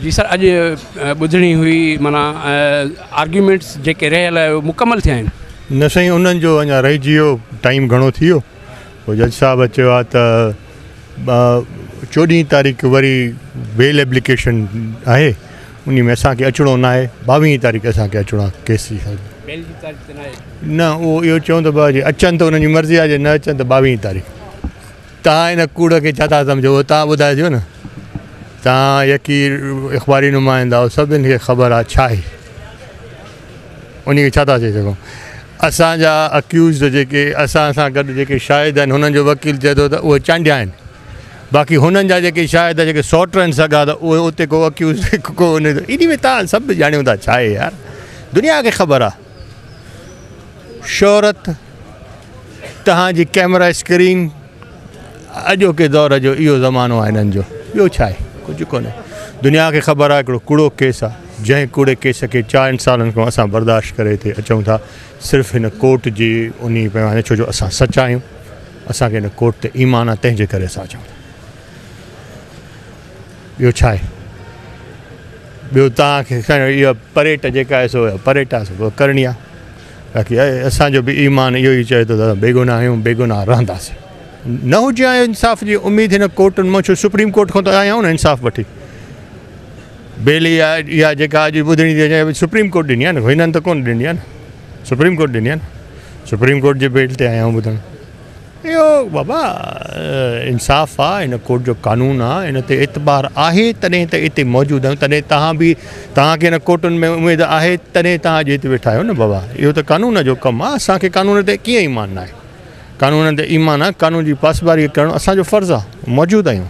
جي سر اڄ ٻڌڻي هئي معنيٰ آرگيومينٽس جيڪي رهيل آهي اهي مڪمل ٿيا آهن. نه سائين انهن جو اڃا رهجي ويو ٽائيم گهڻو ٿي ويو پوء جج صاحب چيو آهي ته چوڏهين تاريخ وري بيل ايپليڪيشن آهي انهي ۾ اسان کي اچڻو ناهي ٻاويهين تاريخ اسان کي اچڻو آهي ڪيس جي سر بيل جي تاريخ ته ناهي نه اهو اهو چون ته اچن ته انهن جي مرضي آهي جي نه اچن ته ٻاويهين تاريخ. توهان ان ڪوڙ کي ڇا ٿا سمجهو اهو توهان ٻڌائجو نه. توهان يڪي اخباري نمائندا آهيو سڀن کي خبر آهي ڇا آهي انهي کي ڇا ٿا چئي سگهون. اسان جا اڪيوزڊ جيڪي اسان سان گڏ جيڪي شاهد آهن هنن جو وڪيل چئي ٿو ته اهي چانڊيا آهن باقي هنن جا جيڪي شاهد جيڪي سوٽ آهن سگا ته اهي اتي ڪو اڪيوزڊ ڪو انهي ته انهي ۾ توهان سڀ ڄاڻيو ٿا ڇا آهي يار دنيا کي خبر آهي. شهرت تهان جي ڪيمرا اسڪرين اڄوڪي دور جو اهو زمانو آهي هنن جو ٻيو ڇا آهي ڪجهه ڪونه دنيا کي خبر آهي هڪڙو ڪوڙو ڪيس آهي جنهن ڪوڙي ڪيس کي چائن سالن کان اسان برداشت ڪري هتي اچون ٿا صرف هن ڪورٽ جي انهي پيماني ڇو جو اسان سچا آهيون اسان کي هن ڪورٽ تي ايمان آهي تنهن جي ڪري اسان اچون ٿا. ٻيو ڇا آهي ٻيو توهان کي اها پريٽ جيڪا آهي سو پريٽ آهي سو ڪرڻي آهي باقي اسانجو به ايمان اهو ئي چوي ٿو ته بيگناهه آهيون بيگناهه رهنداسين نه هجي آهي انصاف جي اميد هن ڪورٽن مان ڇو سپريم ڪورٽ کان ته آيا آهيون نه انصاف وٺي بيل اها اها جيڪا اڄ ٻڌڻي ٿي اچي سپريم ڪورٽ ڏني آهي نه هنن ته ڪونه ڏني آهي نه سپريم ڪورٽ ڏني آهي نه سپريم ڪورٽ جي بيل تي آيا آهيون ٻڌڻ اهو بابا انصاف آ ان ڪورٽ جو قانون آ ان تي اعتبار آهي تڏهن ته اتي موجود آهيون تڏهن توهان به توهان کي ان ڪورٽن ۾ اميد آهي تڏهن توهان اڄ اتي ويٺا آهيو نه بابا اهو ته قانون جو ڪم آ اسان کي قانون تي ڪيئن ايمان ناهي قانون تي ايمان آ قانون جي پاسداري ڪرڻ اسان جو فرض آ موجود آهيون